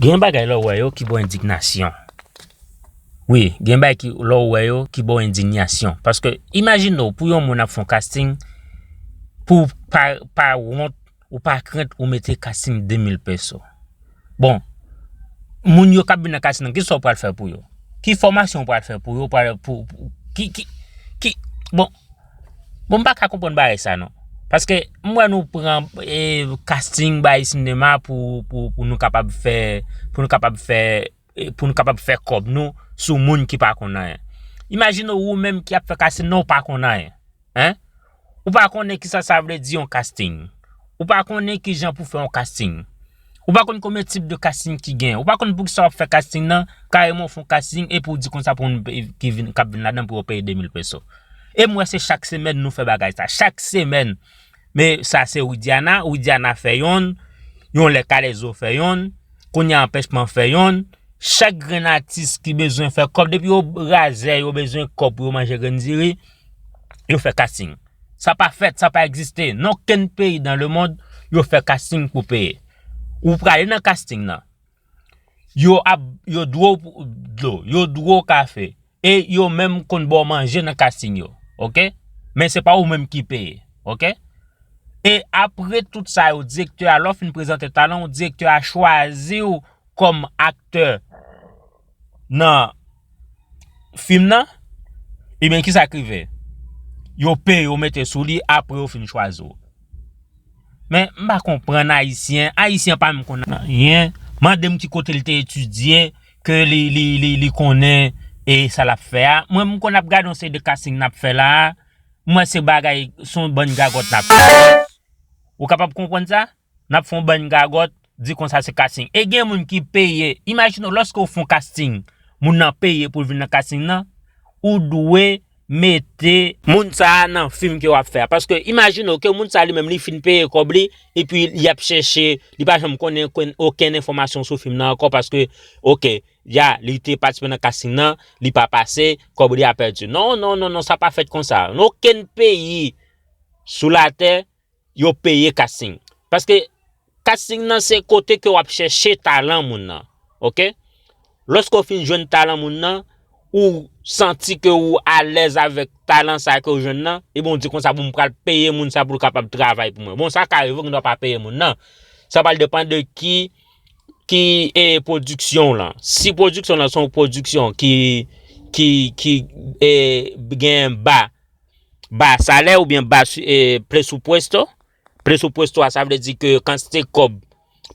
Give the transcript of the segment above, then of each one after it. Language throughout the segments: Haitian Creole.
Gen bagay lè w wè yo ki ba w endignasyon. Wi, gen bagay ki lè w wè yo ki ba w endignasyon. Paske imajine w pou yon moun ap fè yon kasting pou w pa pa wont ou pa krent ou mete kasting 2000 pèso. Bon, moun yo k ap vin nan kasting nan ki sa w pral fè pou yo? Ki fòmasyon w pral fè pou yo pou ki ki ki bon. Bon m pa ka konprann bagay sa non. Paske m wè nou pran e casting bay sinema pou pou nou kapab fè pou nou kapab fè pou nou kapab fè kòb nou sou moun ki pa konn anyen. Imajine ou menm ki ap fè casting nan ou pa konn anyen. Hein? Ou pa konnen kisa sa vle di yon casting. Ou pa konnen kijan pou fè yon casting. Ou pa konn konbyen tip de casting ki gen. Ou pa konn poukisa wap fè casting nan, kareman ou fon casting epi ou di konsa pou moun ki vin kap vin ladan pou yo peye 2000 peso. Em wè se chak semèn nou fè bagay sa. Chak semèn. Men sa se Widiana, Widiana fè yonn, yon lè Kalezo fè yonn, kounye a Anpèchman fè yonn. Chak grenn atis ki bezwen fè kòb depi yo razè yo bezwen kòb pou yo manje grenn diri, yo fè casting. Sa pa fèt, sa pa egziste. Nan okenn peyi dan lemond, yo fè kasting pou peye. Ou prale nan kasting nan, yo ap, yo dwe w dlo, yo dwe w kafe, e yo menm konn ba w manje nan kasting yo. Ok? Men se pa ou menm ki peye. Ok? E apre tout sa yo, direktè a, lè w fin prezante talan w, direktè a chwazi w kòm aktè nan fim nan ebyen kisa k rive yo peye yo mete sou li apre yo fin chwazi w men m pa konprann ayisyen ayisyen pa menm konn anyen mande m ki kote l te etidye ke li konnen e sa l ap fè a mwen m konn ap gade yon seri de kasting n ap fè la a m wè se bagay son bann gagòt n ap fè ou kapab konprann sa. nap fon bann gagòt di konsa se casting e gen moun ki peye imajine w lòske w fon casting moun nan peye pou l vin nan casting nan ou dwe mete moun sa a nan fim ke wap fè a paske imajine w ke moun sa a li menm li fin peye kòb li epi li ap chèche li pa janm konnen okenn enfòmasyon sou fim nan ankò paske ok ya li te patisipe nan casting nan li pa pase kòb li a pèdi non non non non sa pa fèt konsa nan okenn peyi sou latè Yo peye casting. Paske casting nan se kote ke wap chèche talan moun nan. Ok. Lòske ou fin jwenn talan moun nan, ou santi ke ou alèz avèk talan sa ke ou jwenn nan, ebyen ou di konsa bon m pral peye moun sa pou l kapab travay pou mwen. Bon sa ka rive ou gen dwa pa peye moun nan. Sa pral depan de ki ki e pwodiksyon w lan. Si pwodiksyon w lan se yon pwodiksyon ki ki ki e gen ba. ba salè ou byen ba presupwesto, presupwesto a sa vle di ke kantite kòb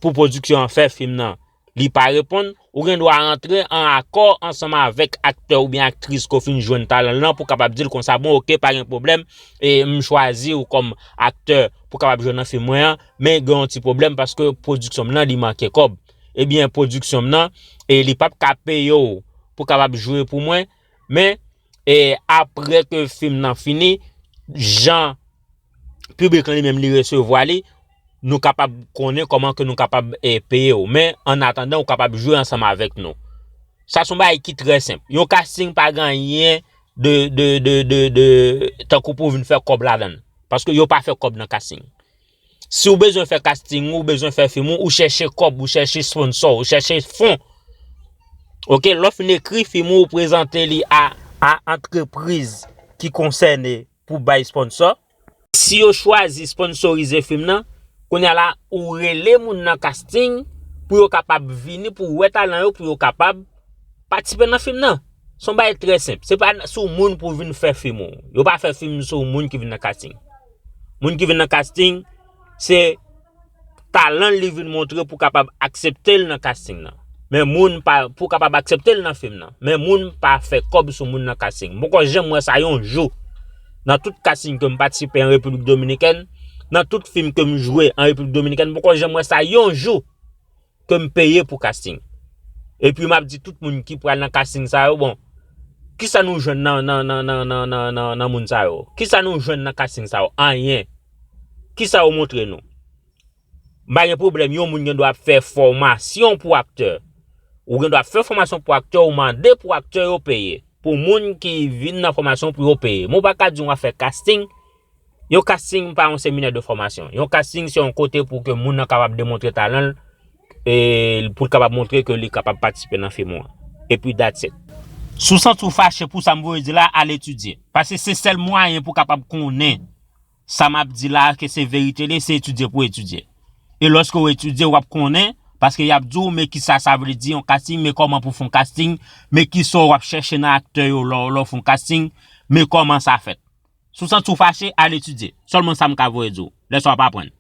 pou pwodiksyon an fè fim nan li pa reponn, ou gen dwa antre an akò ansanm avèk aktè ou byen aktris ke w fin jwenn talan l lan pou kapab di l konsa bon ok pa gen pwoblèm e m chwazi w kòm aktè pou kapab jwe nan fim mwen an men gen yon ti pwoblèm paske pwodiksyon m nan li manke kòb ebyen pwodiksyon m nan e li pap ka peye w pou kapab jwe pou mwen. Men, apre ke fim nan fini, jan piblik lan li menm li resevwa li, nou kapab konnen kòman ke nou kapab peye ou. Men, an atandan ou kapab jwe ansanm avèk nou. Sa son bagay ki trè senp. Yon casting pa gen anyen de tankou pou vin fè kòb ladan. Paske yo pa fè kòb nan casting. Si ou bezwen fè casting ou, ou bezwen fè film ou, ou chèche kòb, ou chèche sponsor, ou chèche fon. Ok, lè w fin ekri film ou, ou prezante li a antrepriz ki konsène pou bay sponsor. Si yo chwazi sponsorize film nan, kounya la ou rele moun nan casting pou yo kapab vini pou wè talan yo pou yo kapab patisipe nan film nan. Se yon bagay trè senp. Se pa sou moun pou vin fè film ou. Yo pa fè film sou moun ki vin nan casting. Moun ki vin nan casting se talan l li vin montre pou kapab aksepte l nan casting nan. Men moun pa, pou kapab aksepte l nan fim nan. Men moun pa fè kòb sou moun nan casting. M poko janm wè sa yon jou nan tout casting ke m patisipe an Repiblik Dominikèn, nan tout fim ke m jwe an Repiblik Dominikèn, m poko janm wè sa yon jou. ke m peye pou casting. Epi map di tout moun ki pral nan casting sa yo bon kisa nou jwenn nan moun sa yo? Kisa nou jwenn nan casting sa yo? Anyen. Kisa yo montre nou? M pa gen pwoblèm yon moun gen dwa ap fè fòmasyon pou aktè. Ou gen dwa fè fòmasyon pou aktè ou mande pou aktè yo peye. Pou moun ki vin nan fòmasyon pou yo peye. Men w pa ka di w ap fè casting. Yon casting pa yon seminè de fòmasyon. Yon casting se yon kote pou ke moun nan kapab demontre talan l, e pou l kapab montre ke li kapab patisipe nan fim ou an. Epi that's it. Si w santi w fache pou sa m voye di la, al etidye. Paske se sèl mwayen pou w kapab konnen sa m ap di la a ke se verite li, se etidye pou w etidye. E lòske w etidye, w ap konnen, paske y ap di w men kisa sa vle di yon casting, men kòman pou w fè yon casting, men kisa w ap chèche nan aktè yo lè w fè yon casting, men kòman sa fèt. Si w santi w fache, al etidye. Sèlman sa m ka voye di w. Lè sa w ap aprann.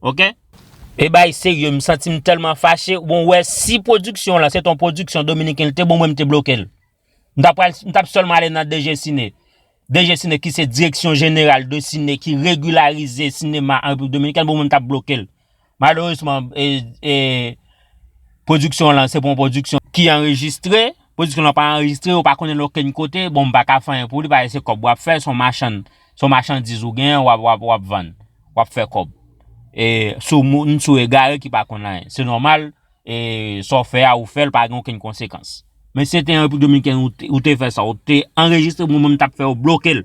Ok? E bay serye m santi m tèlman fache bon wè si pwodiksyon w lan se t on pwodiksyon dominiken l te bon mwen m te bloke l. M ta pral m tap sèlman ale nan DGCINE. DGCINE ki se direksyon jeneral de sine ki regilarize sinema an repiblik dominikèn bon mwen m tap bloke l. Maleresman, pwodiksyon lan se pa yon pwodiksyon ki anrejistre. Pwodiksyon lan pa anrejistre, ou pa konnen l okenn kote. Bon, m pa ka fè anyen pou li paske se kòb w ap fè. Se yon machann, se yon machandiz ou gen, w ap vann. W ap fè kòb. E sou moun, sou egare ki pa konn anyen. Se nòmal, sa w fè a, ou fè l, pa gen okenn konsekans. Men si se te an Repiblik Dominikèn ou te fè sa, ou te anrejistre, mwen menm m t ap fè yo bloke l.